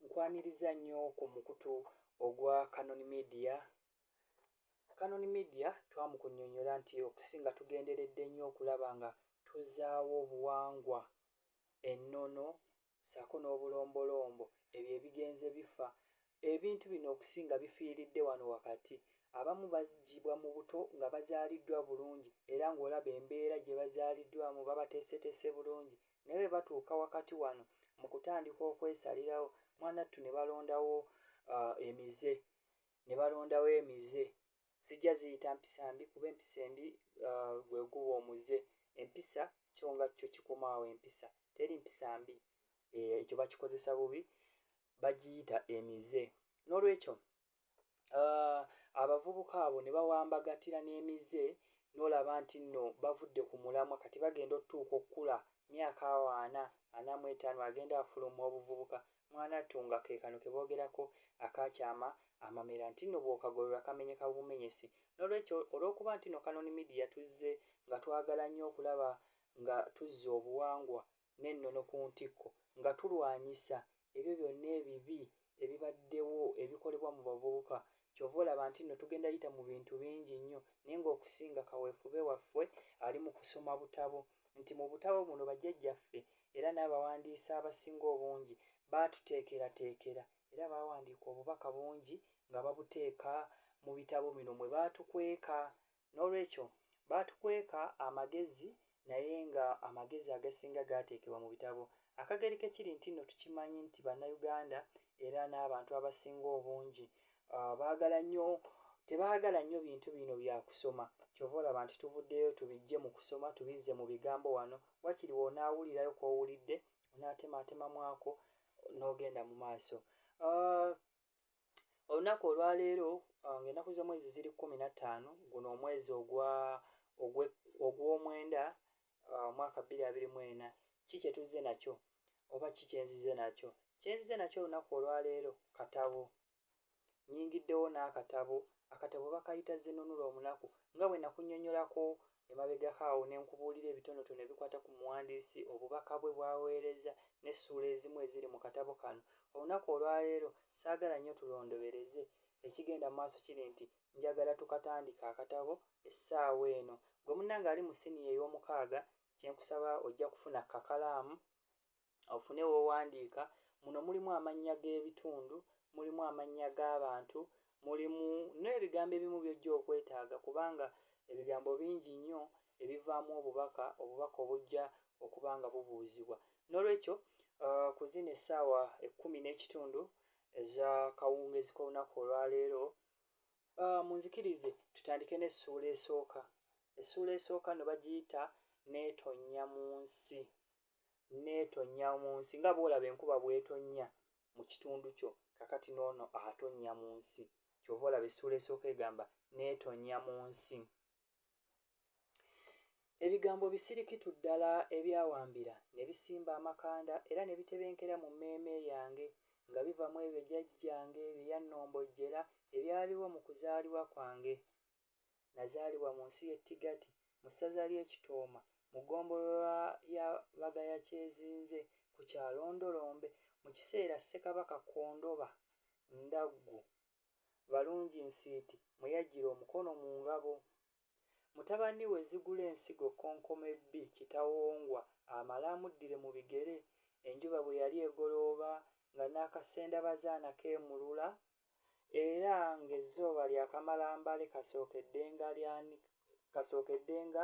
Nkwaniriza nnyo ku mukutu ogwa Canon Media. Canon Media twamukunyonyola nti okusinga tugenderedde nnyo okulaba nga tuzaawo obuwangwa, ennono saako n'obulombolombo ebyo ebigenze bifa Ebintu bino okusinga bifiiridde wano wakati. Abamu bazzibwa mu buto nga bazaaliddwa bulungi era ng'olaba embeera gye bazaaliddwamu babateeseteese bulungi naye bwe batuuka wakati wano mu kutandika okwesalirawo mwanattu ne balondawo emize ne balondawo emize. Sijja ziyita mpisa mbi kuba empisa embi gwe guba omuze. Empisa kyo nga kyo kikoma awo empisa. Teri mpisa mbi. Ekyo bakikozesa bubi bagiyita emize n'olwekyo uh, abavubuka abo ne bawambagatira n'emize n'olaba nti nno bavudde ku mulamwa kati bagenda otutuuka okukula myaka awo ana ana mu etaano agenda afuluma obuvubuka mwanattu nga ke kano ke boogerako akaakyama amamera nti nno bw'okagolola kamenyeka bumenyesi n'olwekyo olw'okuba nti nno kanoni midiya tuzze nga twagala nnyo okulaba nga tuzza obuwangwa n'ennono ku ntikko nga tulwanyisa ebyo byonna ebibi ebibaddewo ebikolebwa mu bavubuka ky'ova olaba nti nno tugenda yita mu bintu bingi nnyo naye ng'okusinga kaweefube waffe ali mu kusoma butabo nti mu butabo buno bajjajjaffe era n'abawandiisi abasinga obungi baatuteekerateekera era baawandiika obubaka bungi nga babuteeka mu bitabo bino mwe baatukweka N'olwekyo, baatukweka amagezi, naye nga amagezi agasinga gaateekebwa mu bitabo. Akagerike kiri nti nno tukimanyi nti Bannayuganda era n'abantu abasinga obungi baagala nnyo, tebaagala nnyo bintu bino bya kusoma. Ky'ova olaba nti tuvuddeyo tubiggye mu kusoma tubizze mu bigambo wano. Wakiri w'onaawulirayo kw'owulidde, onaatemaatemamu ako n'ogenda mu maaso. olunaku olwaleero uh, ng'ennaku z'omwezi ziri kumi na ttaano guno omwezi ogw'omwenda uh, omwaka bbiri abiri mu ena ki kye tuzze nakyo oba ki kye nzize nakyo kye nzize nakyo olunaku olwaleero katabo nyingiddewo n'akatabo akatabo bakayita zinunula omunaku nga bwe nakunyonyolako Emabegako awo ne nkubuulira ebitonotono ebikwata ku muwandiisi, obubaka bwe bw'aweereza, n'essuula ezimu eziri mu katabo kano. Olunaku olwa leero ssaagala nnyo tulondobereze. Ekigenda mu maaso kiri nti, njagala tukatandike akatabo essaawa eno. Ggwe munnange ali mu siniya ey'omukaaga, kye nkusaba, ojja kufuna kakalaamu ofune w'owandiika. Muno mulimu amannya g'ebitundu, mulimu amannya g'abantu, mulimu n'ebigambo ebimu by'ojja okwetaaga kubanga ebigambo bingi nnyo ebivaamu obubaka, obubaka obujja okuba nga bubuuzibwa. Noolwekyo ku zino essaawa ekkumi n'ekitundu ez'akawungeezi k'olunaku olwaleero, munzikirize tutandike n'essuula esooka. Essuula esooka nno bagiyita Neetonnya mu Nsi. n'etonnya mu nsi nga bw'olaba enkuba bw'etonnya mu kitundu kyo, kaakati n'ono atonnya mu nsi. Ky'ova olaba essuula esooka egamba, n'etonnya mu nsi. Ebigambo bisirikitu ddala ebyawambira ne bisimba amakanda era ne bitebenkera mu mmeeme yange, nga biva mu ebyo jjajjange bye yannombojjera ebyaliwo mu kuzaalibwa kwange. Nazaalibwa mu nsi y'e Tigati mu ssaza ly'e Kitooma mu ggombolola ya Bagayakyezinze ku kyalo Ndolombe mu kiseera Ssekabaka Kondoba Ndaggu Balunginsiiti mwe yaggyira omukono mu ngabo. Mutabani we Zigulensigo Kkonkomebbi Kitawongwa amale amuddire mu bigere enjuba bwe yali egolooba nga n'akasendabazaana keemulula era ng'ezzooba lyakamala mbale kasookeddenga.